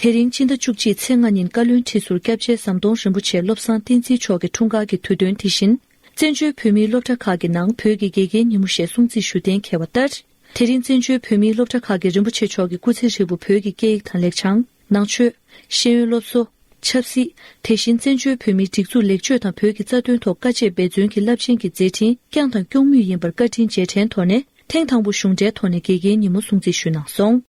དེ་རིང་སྤྱི་ཟླ་བཅུ་གཅིག་ཚེས་ལྔ་ཉིན་བཀའ་བློན་ཁྲི་ཟུར་སྐྱབས་རྗེ་ཟམ་གདོང་རིན་པོ་ཆེ་བློ་བཟང་བསྟན་འཛིན་མཆོག་གི་འཁྲུངས་སྐར་གྱི་དུས་སྟོན་དེ་བཞིན། བཙན་བྱོལ་བོད་མིའི་སློབ་གྲྭ་ཁག་གི་ནང་བོད་ཀྱི་དགེ་རྒན་ཉིན་མོ་ཞེས་སྲུང་བརྩི་ཞུ་གཏན་འཁེལ་བ་ལྟར། དེ་རིང་བཙན་བྱོལ་བོད་མིའི་སློབ་གྲྭ་ཁག་གིས་རིན་པོ་ཆེ་མཆོག་གི་སྐུ་ཚེ་ཧྲིལ་པོ་བོད་ཀྱི་སྐད་ཡིག་དང་ལེགས་བྱང། ནང་ཆོས། ཤེས་ཡོན་སློབ་གསོ། ཆབ་སྲིད། དེ་བཞིན་བཙན་བྱོལ་བོད་མིའི་སྒྲིག་འཛུགས་ལེགས་བཅོས་དང་བོད་ཀྱི་རྩ་དོན་ཐོག་དཀའ་སྤྱད་འབད་བརྩོན་གྱིས་རླབས་ཆེན་གྱི་མཛད་འཕྲིན་བསྐྱངས་དང་སྐྱོང་མུས་ཡིན་པར་བཀའ་དྲིན་རྗེས་དྲན་དོར་ནས་ཐེངས་དང་པོ་གཞུང་འབྲེལ་ཐོག་ནས་དགེ་རྒན་ཉིན་མོ་སྲུང་བརྩི་ཞུས་གནང་སོང།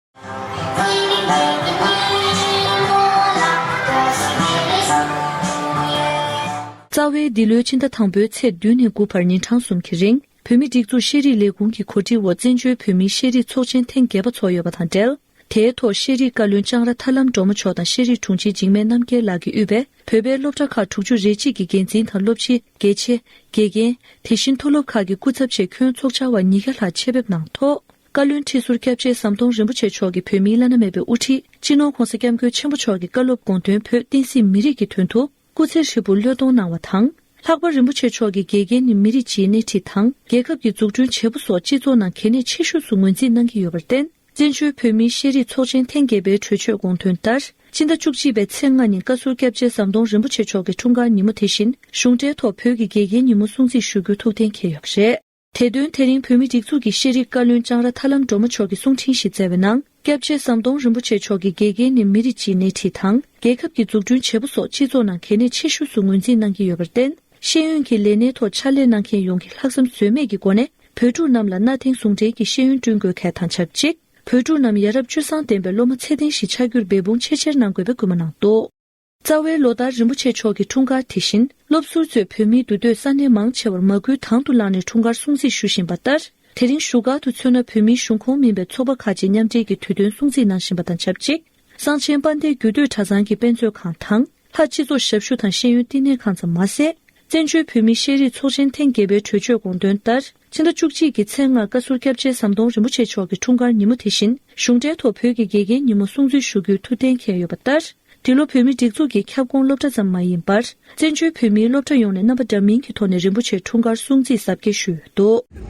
རྩ་བའི་འདི་ལོའི་ཕྱི་ཟླ་དང་པོའི་ཚེས་བདུན་ནས་དགུ་བར་ཉིན་གྲངས་གསུམ་གྱི་རིང་བོད་མི་སྒྲིག་འཛུགས་ཤེས་རིག་ལས་ཁུངས་ཀྱི་གོ་སྒྲིག་འོག་བཙན་བྱོལ་བོད་མིའི་ཤེས་རིག་ཚོགས་ཆེན་ཐེངས་བརྒྱད་པ་ཚོགས་ཡོད་པ་དང་འབྲེལ། དེའི་ཐོག་ཤེས་རིག་བཀའ་བློན་ལྕང་ར་ཐར་ལམ་འབྲོག་མོ་མཆོག་དང་ཤེས་རིག་དྲུང་ཆེ་འཇིགས་མེད་རྣམ་རྒྱལ་ལགས་ཀྱི་དབུས་པས་བོད་པའི་སློབ་གྲྭ་ཁག་དྲུག་ཅུ་རེ་གཅིག་གི་འགན་འཛིན་དང་སློབ་སྤྱི། དགེ་ཆེ། དགེ་རྒན། དེ་བཞིན་མཐོ་སློབ་ཁག་གི་སྐུ་ཚབ་བཅས་ཁྱོན་ཚོགས་བཅར་བ་ཉིས་བརྒྱ་ལྷག་ཆེད་ཕེབས་གནང་ཐོག། བཀའ་བློན་ཁྲི་ཟུར་སྐྱབས་རྗེ་ཟམ་གདོང་རིན་པོ་ཆེ་མཆོག་གིས་བོད་མིའི་བླ་ན་མེད་པའི་དབུ་ཁྲིད་སྤྱི་ནོར ྋགོང་ས ྋསྐྱབས་མགོན་ཆེན་པོ་མཆོག་གི་བཀའ་སློབ་དགོངས་དོན་བོད་བསྟན་སྲིད་མི་རིགས་ཀྱི་དོན་དུ་སྐུ་ཚེ་ཧྲིལ་པོར་བློས་གཏོང་གནང་བ་དང། ལྷག་པར་རིན་པོ་ཆེ་མཆོག་གིས་དགེ་རྒན་ནི་མི་རིགས་སྤྱིའི་སྣེ་ཁྲིད་དང་རྒྱལ་ཁབ་ཀྱི་འཛུགས་སྐྲུན་བྱེད་པོ་སོགས་སྤྱི་ཚོགས་ནང་གལ་གནད་ཆེ་ཤོས་སུ་ངོས་འཛིན་གནང་གི་ཡོད་པར་བརྟེན་བཙན་བྱོལ་བོད་མིའི་ཤེས་རིག་ཚོགས་ཆེན་ཐེངས་བརྒྱད་པའི་གྲོས་ཆོད་དགོངས་དོན་ལྟར། སྤྱི་ཟླ་བཅུ་གཅིག་པའི་ཚེས་ལྔ་ཉིན་བཀའ་ཟུར་སྐྱབས་རྗེ་ཟམ་གདོང་རིན་པོ་ཆེ་མཆོག་གི་འཁྲུངས་སྐར་ཉིན་མོ་དེ་བཞིན་གཞུང་འབྲེལ་ཐོག་བོད་ཀྱི་དགེ་རྒན་ཉིན་མོ་སྲུང་བརྩི་ཞུ་རྒྱུ་ཐུགས་གཏན་འཁེལ་ཡོད་པ་རེད། དེ་དོན་དེ་རིང་བོད་མི་སྒྲིག་འཛུགས་ཀྱི་ཤེས་རིག་བཀའ་བློན་ལྕང་ར་ཐར་ལམ་སྒྲོལ་མ་མཆོག་གིས་གསུང་འཕྲིན་ཞིག་སྩལ་བའི་ནང་སྐྱབས་རྗེ་ཟམ་གདོང་རིན་པོ་ཆེ་མཆོག་གིས་དགེ་རྒན་ནི་མི་རིགས་སྤྱིའི་སྣེ་ཁྲིད་དང་རྒྱལ་ཁབ་ཀྱི་འཛུགས་སྐྲུན་བྱེད་པོ་སོགས་སྤྱི་ཚོགས་ནང་གལ་གནད་ཆེ་ཤོས་སུ་ངོས་འཛིན་གནང་གི་ཡོད་པར་བརྟེན། ཤེས་ཡོན་གྱི་ལས་སྣེའི་ཐོག་ཕྱག་ལས་གནང་མཁན་ཡོངས་ཀྱིས་ལྷག་བསམ་ཟོལ་མེད་ཀྱི་སྒོ་ནས་བོད་ཕྲུག་རྣམས་ལ་གནའ་དེང་ཟུང་འབྲེལ་གྱི་ཤེས་ཡོན་བསྐྲུན་དགོས་གལ་དང་ཆབས་ཅིག་བོད་ཕྲུག་རྣམས་ཡ་རབས་སྤྱོད་བཟང་ལྡན་པའི་སློབ་མ་ཚད་ལྡན་ཞིག་ཆགས་རྒྱུར་འབད་འབུངས་ཆེས་ཆེར་གནང་དགོས་པའི་སྐུལ་མ་གནང་འདུག། རྩ་བའི་ལོ་ལྟར་རིན་པོ་ཆེ་མཆོག་གི་འཁྲུངས་སྐར་དེ་བཞིན་སློབ་ཟུར་ཚོས་བོད་མིའི་འདུ་སྡོད་ས་གནས་མང་ཆེ་བར་མ་སྐུལ་དང་དུ་བླངས་ནས་འཁྲུངས་སྐར་སྲུང་བརྩི་ཞུ་བཞིན་པ་ལྟར། དེ་རིང་བཞུགས་སྒར་དུ་མཚོན་ན་བོད་མིའི་གཞུང་ཁོངས་མིན་པའི་ཚོགས་པ་ཁག་ཅིག་མཉམ་འབྲེལ་གྱིས་དུས་སྟོན་སྲུང་བརྩི་གནང་བཞིན་པ་དང་ཆབས་ཅིག་གསང་ཆེན་དཔལ་ལྡན་རྒྱུད་སྟོད་གྲྭ་ཚང་གི་དཔེ་མཛོད་ཁང་དང། ལྷ་སྤྱི་ཚོགས་ཞབས་ཞུ་དང་ཤེས་ཡོན་བསྟི་གནས་ཁང་ཙམ་མ་ཟད། བཙན་བྱོལ་བོད་མིའི་ཤེས་རིག་ཚོགས་ཆེན་ཐེངས་བརྒྱད་པའི་གྲོས་ཆོད་དགོངས་དོན་ལྟར། ཕྱི་ཟླ་བཅུ་གཅིག་གི་ཚེས་ལྔ་བཀའ་ཟུར་སྐྱབས་རྗེ་ཟམ་གདོང་རིན་པོ་ཆེ་མཆོག་གི་འཁྲུངས་སྐར་ཉིན་མོ་དེ་བཞིན་གཞུང་འབྲེལ་ཐོག་བོད་ཀྱི་དགེ་རྒན་ཉིན་མོ་སྲུང་བརྩི་ཞུ་རྒྱུའི་ཐུགས་གཏན་འཁེལ་ཡོད་པ་ལྟར། འདི་ལོ་བོད་མིའི་སྒྲིག་འཛུགས་ཀྱི་ཁྱབ་ཁོངས་སློབ་གྲྭ་ཙམ་མ་ཡིན་པར། བཙན་བྱོལ་བོད་མིའི་སློབ་གྲྭ་ཡོངས་ནས་རྣམ་པ་འདྲ་མིན་གྱི་ཐོག་ནས་རིན་པོ་ཆེའི་འཁྲུངས་སྐར་སྲུང་བརྩི་གཟབ་རྒྱས་ཞུས་ཡོད་འདུག།